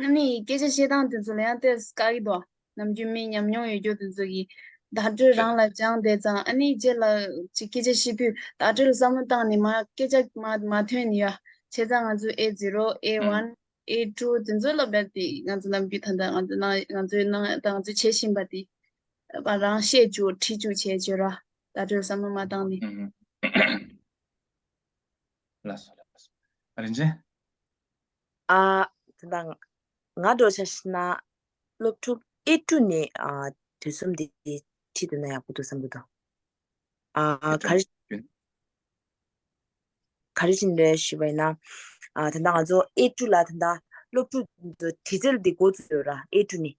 རྣམ་སྨིན་གྱི་སྐད་ཆ་བཤད་སྟངས་དེ་ཚོ་ལ་ཡང་གཏད་དཀའ་གི་འདུག་ནམ་རྒྱུན་མི་ཉམས་མྱོང་ཡོད་རྒྱུ་དེ་ཚོ་གིས་བརྡ་སྤྲོད་རང་ལ་སྦྱངས་བསྡད་ཙང་ཨ་ནེའི་རྗེས་ལ་ཅིག་སྐད་ཆ་བཤད་དུས་བརྡ་སྤྲོད་ལ་བསམ་བློ་བཏང་ནས་མ་སྐད་ཆ་མ་ཐོན་ནི་ཡ་བྱས་ཙང་ང་ཚོའི་ཨེ་ཛིརོ་ཨེ་ཝན་ཨེ་ཏུ་དེ་ཚོ་ལ་བལ་ཏེ་ང་ཚོ་ནམ་རྒྱུན་ད་ལྟ་ང་ཚོས་གནང་ང་ཚོས་གནང་ད་ང་ཚོས་བྱེད་བཞིན་པ་དེ་བ་རང་བཤད་བཅུག་ཁྲིད་བཅུག་བྱས་བྱོས་ར་བརྡ་སྤྲོད་ལ་བསམ་བློ་མ་བཏང་ནི། ལ་སོ་ལ་སོ་རིན་ཆེན། ཨ། དེ་འདྲ། ང་འགྲོ་བྱ་ཞེ་ན། སློབ་ཕྲུག་ཨེ་ཀྲུ་ནི། དུས་གསུམ་འདི་ཁྲིད་འདོད་ན་ཡག་པོ་འདུག་བསམ་གྱི་འདུག། ཨ། ག་རེ། ག་རེ་བྱིན་རེད་ཞུས་པ་ཡིན་ན། དེ་འདྲ་ང་ཚོ་ཨེ་ཀྲུ་ལ་དེ་འདྲ། སློབ་ཕྲུག་དྲི་རྩལ་འདི་འགོ་འཛུགས་ཡོད་ར་ཨེ་ཀྲུ་ནི།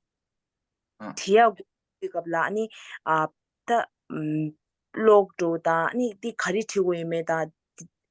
དེ་ཡག་འགོ་འཛུགས་སྐབས་ལ་ནི། ད། སློབ་ཕྲུག་དང་ནི་འདི་ག་རེ་བྲིས་དགོས་ཡོད་མེད་དང།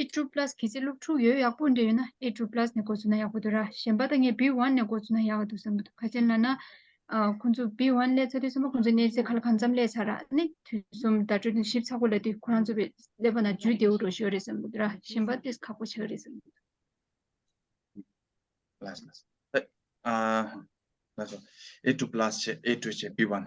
ཨེ་ཀྲུ་པ་ལཱས་གི་ཚེ་ལུགས་འཁྲུག་ཡོད་ཡག་པོ་འདྲ་ཡོད་ན་ཨེ་ཀྲུ་པ་ལཱས་ནས་གོ་ཚུགས་ན་ཡག་པོ་འདུག་ར་གཞན་པ་ད་ངས་བི་ཝན་ནས་གོ་ཚུགས་ན་ཡག་འདུག་བསམ་གི་འདུག་ག་ཅན་ལ་ན་ཁོང་ཚོ་བི་ཝན་ལས་ཚ་དུས་གསུམ་པ་ཁོང་ཚོ་གནས་ཚེ་ཁ་ལ་གང་འཚམ་ལས་ཚ་ར་ནི་དུས་གསུམ་བརྡ་སྤྲོད་ནས་ཞིབ་ཚགས་པོ་ལ་དུས་ཁོ་རང་ཚོ་བི་ལས་པ་ན་ཇུས་བདེའུ་འགྲོ་ཞོར་རེད་བསམ་གི་འདུག་ར་གཞན་པ་དེས་ཁག་པོ་ཆགས་རེད་བསམ་གི་འདུག། ཨེ་ཀྲུ་པ་ལཱས་ཆེ་ཨེ་ཀྲུ་བྱེད་བི་ཝན།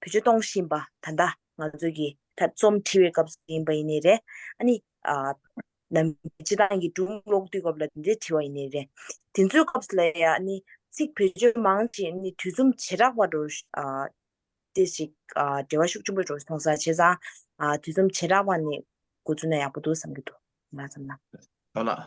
བོད་ཆས་གཏོང་བཞིན་པ་ད་ལྟ་ང་ཚོས་ཀྱི་ད་རྩོམ་འབྲི་བའི་སྐབས་སུ་ཡིན་པ་ཡིན་ནི་རེད། ཨ་ནི། ནམ་རྒྱུན་སྤྱི་བཏང་གི་སྒྲུང་ཀློག་དུས་སྐབས་ལ་དེ་འདྲའི་བྲི་བ་ཡིན་ནི་རེད། དེ་ཚོའི་སྐབས་ལ་ཡང་ཨ་ནི། ཚིག་བེད་སྤྱོད་མང་ཞིང་ཨ་ནི་དུས་རྩོམ་བྱེ་བྲག་པ་འགྲོ། དེ་ཞིག་འབྲེལ་བ་ཤུགས་ཆེན་པོ་འགྲོ་སོང་ས་བྱས་ཙང། དུས་རྩོམ་བྱེ་བྲག་པ་ནི་འགོ་བཙུགས་ན་ཡག་པོ་འདུག་བསམ་གྱི་འདུག་ང་བསམ་ན། ཡོད་ལགས།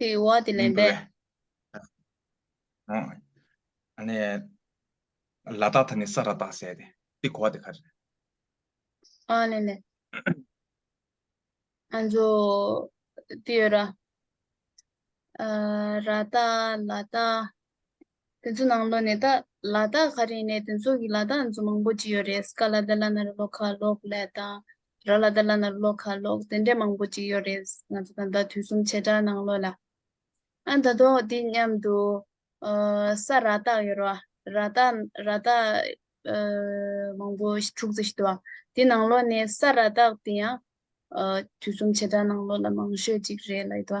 དེ་བ་དེ་ལེན་པས་ཨ་ནི་ལ་དག་ཐ་ནི་ས་ར་དག་སེ་དེ་དེ་གོ་བ་དེ་ཁར་ཨ་ལེན་ལེན་ཨན་ཇོ་དེ་ཡོ་ར་ར་དག་ལ་དག་དེ་ཚོའི་ནང་ལོ་ནས་ད་ལ་དག་ག་རེ་ནས་དེ་ཚོ་གི་ལ་དག་འཛུགས་མང་པོ་བྱས་ཡོད་རེད་སྐ་ལ་དེ་ལ་ན་རེ་ལོ་ཁ་ལོག་ལས་དང། ར་ལ་དེ་ལ་ན་རེ་ལོ་ཁ་ལོག་དེ་འདྲས་མང་པོ་བྱས་ཡོད་རེད་ང་ཚོ་དང་ད་དུས་གསུམ་བྱེ་བྲག་ནང་ལོ་ལ། ཨ་ད་དོག་དེ་མཉམ་དུ་ས་ར་དག་ཡོད་རོ་ར་དག་ར་དག་མང་པོ་དྲུག་ཙེ་ཞིག་དུ་དེ་ནང་ལོ་ནས་ས་ར་དག་དེ་ཡང་དུས་གསུམ་བྱེ་བྲག་ནང་ལོ་ལ་མང་ཤོས་ཅིག་རེད་ལ་ཡོད་དོ།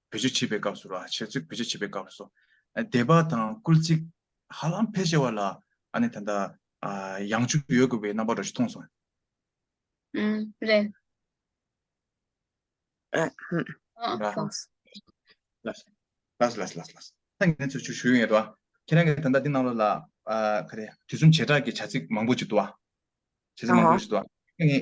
བེད་སྤྱོད་བྱེད་པའི་སྐབས་སུ་ར་བྱེད་ཚུལ་བེད་སྤྱོད་བྱེད་པའི་སྐབས་སུ། སྡེ་པ་དང་སྐུལ་ཚིག་ཧ་ལམ་ཕལ་ཆེ་བ་ལ་ཨ་ནི་ད་ལྟ་ཡང་བཅུག་ཡོད་དགོས་པའི་རྣམ་པ་འགྲོ་ཞིག་མཐོང་སོང། ཨང། རེད། ཨང། ལགས། ལགས། ལགས། ལགས། ད་ངས་ཚུར་བཅུག་ཞུ་ཡོད་ཡོད་དོ། ཁྱེད་རང་གིས་ད་ལྟ་འདི་གནང་ལོ་ལ། ག་རེ། དུས་གསུམ་བྱེ་བྲག་གི་བྱ་ཚིག་མང་པོ་ཅིག་འདུག། བྱེ་ཚིག་མང་པོ་ཞིག་འདུག། ངས།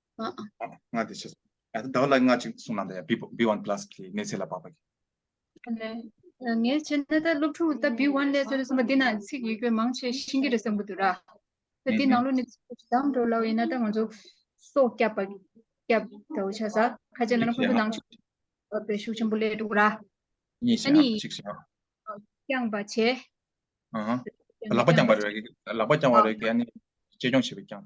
ང་དེ་ཆེ་ཡ་དེ་དག་ལ་ང་ཅིག་སུང་ན་དེ B1 plus ཁི་ནེ་ཚེ་ལ་པ་པ་ཁི་ཨ་ནེ་ངས་ཆེ་ན་དེ་སློབ་ཕྲུག་དེ B1 ལས་ཚོ་རེ་སུ་མ་དེ་ན་ཚིག་ཡིག་པའི་མང་ཆེ་ཤིང་གི་རེ་སམ་བུ་དུ་ར་དེ་དེ་ནང་ལོ་ནི་དམ་དྲོ་ལ་ཡིན་ན་དེ་ང་ཚོ་སོ་སྐྱབ་པ་སྐྱབ་དེ་བ་ཆ་ས་ཁ་ཆེ་ན་ཁོང་དུ་ནང་ཆུ་པེ་ཤུག་ཆེན་པོ་ལས་དུ་ར་ཉེ་ཤ་ཅིག་ཤ་ཀྱང་པ་ཆེ་ཨ་ལག་པ་ཀྱང་པ་རེ་ལག་པ་ཀྱང་པ་རེ་ཀྱེ་ནི་ཅེ་ཀྱང་ཆེ་པེ་ཀྱང་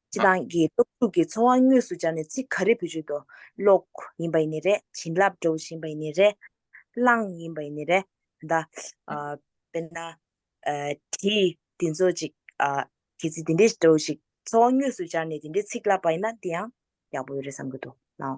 སྤྱི་བཏང་གི་སྟོབས་ཤུགས་ཀྱི་ཚོར་བ་དངོས་སུ་སྦྱར་ནས་ཚིག་ག་རེ་བོད་བརྗོད་དུ་ཀློག་ཡིན་པ་ཡིན་ནི་རེད་བྱིན་རླབས་སྒྲོག་བཞིན་པ་ཡིན་ནི་རེད། གླང་ཡིན་པ་ཡིན་ནི་རེད། ད་དཔེར་ན། དྲི་འདི་ཚོ་ཅིག་གལ་སྲིད་འདི་འདྲའི་སྒྲོག་ཅིག་ཚོར་བ་དངོས་སུ་སྦྱར་ནས་འདི་འདྲའི་ཚིག་བཀླགས་པ་ཡིན་ན་དེ་ཡང་ཡག་པོ་ཡོད་རེད་བསམ་གྱི་འདུག་ལགས།